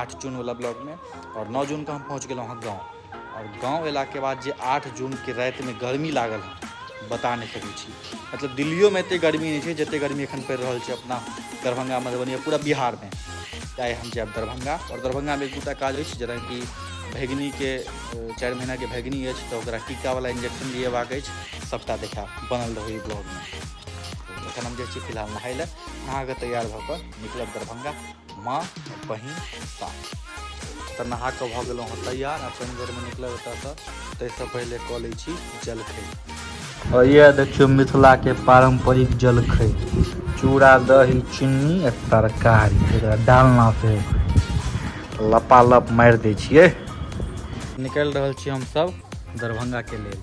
आठ जून वाला ब्लॉग में और नौ जून का हम पहुँच गए वहाँ गाँव और गाँव अला के बाद जे आठ जून के रात में गर्मी लागल है बता नहीं सकैत छी मतलब दिल्लियो में एते गर्मी नहीं है जते गर्मी एखन पड़ रहा है अपना दरभंगा मधुबनी पूरा बिहार में चाहे हम जाए दरभंगा और दरभंगा में एक दूटा काज अछि जेना कि भैगनी के चार महीना के भैगनी अछि तो टीका वाला इंजेक्शन लिएबाक अछि सबटा देखा बनल रहो ब्लॉग में एखन हम जाए फिलहाल नहाय लए नहा के तैयार भऽ कऽ निकलब दरभंगा माँ और बहिन साथ तऽ नहा कऽ भऽ गेलहुँ हँ तैयार आ पानि बेरमे निकलब एतऽसँ ताहिसँ पहिले कऽ लै छी जलखै और यह देखियो मिथिला के पारंपरिक जलखै चूड़ा दही चीनी आ तरकारी जकरा डालना से लपालप मारि दै छियै निकलि रहल छी हमसब दरभंगा के लेल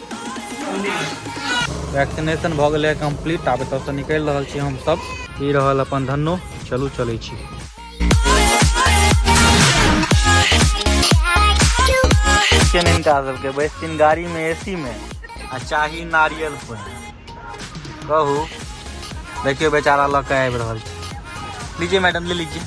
वैक्सीनेशन भऽ गेलै कम्प्लीट आब एतऽसँ निकलि रहल छी हमसभ ई रहल अपन धन्नो चलू चलै छी के नहि हिनका सबके बैसथिन गाड़ी में एसी में आ चाही नारियल पानि कहू देखियो बेचारा लऽ के आबि रहल छै लीजिए मैडम ले लीजिए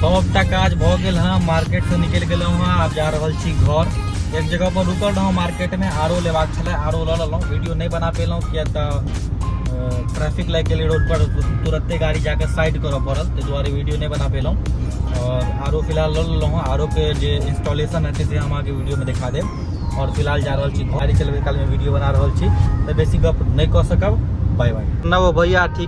सबटा काज भऽ गेल हँ मार्केट से निकलि गेलहुँ हँ आब जा रहल छी घर एक जगह पर रुकल रहौं मार्केट में आरो लेबाक छलै आरो लऽ लेलहुँ वीडियो नहि बना पेलहुँ किया तऽ ट्रैफिक लागि गेलै रोड पर तुरते गाड़ी जाके साइड करऽ पड़ल ताहि दुआरे वीडियो नहि बना पेलहुँ और आरो फिलहाल लऽ लेलहुँ हँ आरो के जे इंस्टॉलेशन हेतै से हम अहाँके वीडियो में देखा देब और फिलहाल जा रहल छी गाड़ी चलबै काल में वीडियो बना रहल छी तऽ बेसी गप नहि कऽ सकब बाय बाय नवो भैया ठीक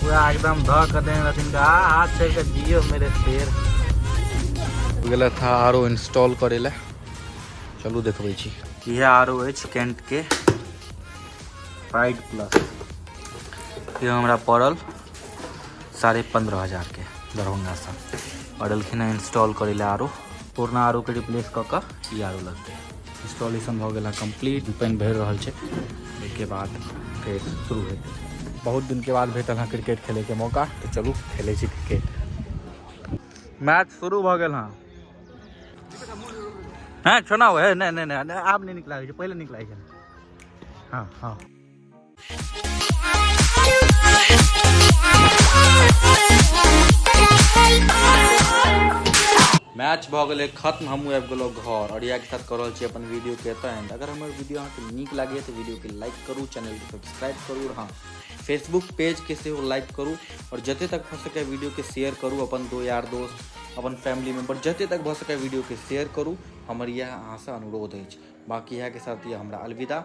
पूरा एकदम धऽ के देने रहथिन का हाथ से के जियो मेरे शेर गेला था आरो इंस्टॉल करे ला चलू देखबै छी इहे आरो अछि कैंट के प्राइड प्लस ये हमरा पड़ल साढ़े पंद्रह हजार के दरभंगा से पड़लखिन इंस्टॉल करे ला आरो पुरना आरो के रिप्लेस कऽ कऽ ई आरो लगतै इंस्टॉलेशन भऽ गेला कंप्लीट पानि भरि रहल छै एहिके बाद फेर शुरू हेतै बहुत दिनके बाद भेटल हँ क्रिकेट खेलैके मौका तऽ चलू खेलै छी क्रिकेट मैच शुरू भऽ गेल हँ हैं छोना हो है नहीं नहीं नहीं आब नहीं निकला पहले निकला हाँ हाँ मैच भऽ गेलै खत्म हमहूँ आबि गेलहुँ घर और इएहके साथ कऽ रहल छी अपन वीडियोके एतऽ एंड अगर हमर वीडियो अहाँके नीक लागैए तऽ वीडियोके लाइक करू चैनलके सब्सक्राइब करू और हाँ फेसबुक पेजके सेहो लाइक करू और जते तक भऽ सकै वीडियोके शेयर करू अपन दो यार दोस्त अपन फैमिली मेम्बर जते तक भऽ सकै वीडियोके शेयर करू हमर इएह अहाँसँ अनुरोध अछि बाँकी इएहके साथ यऽ हमरा अलविदा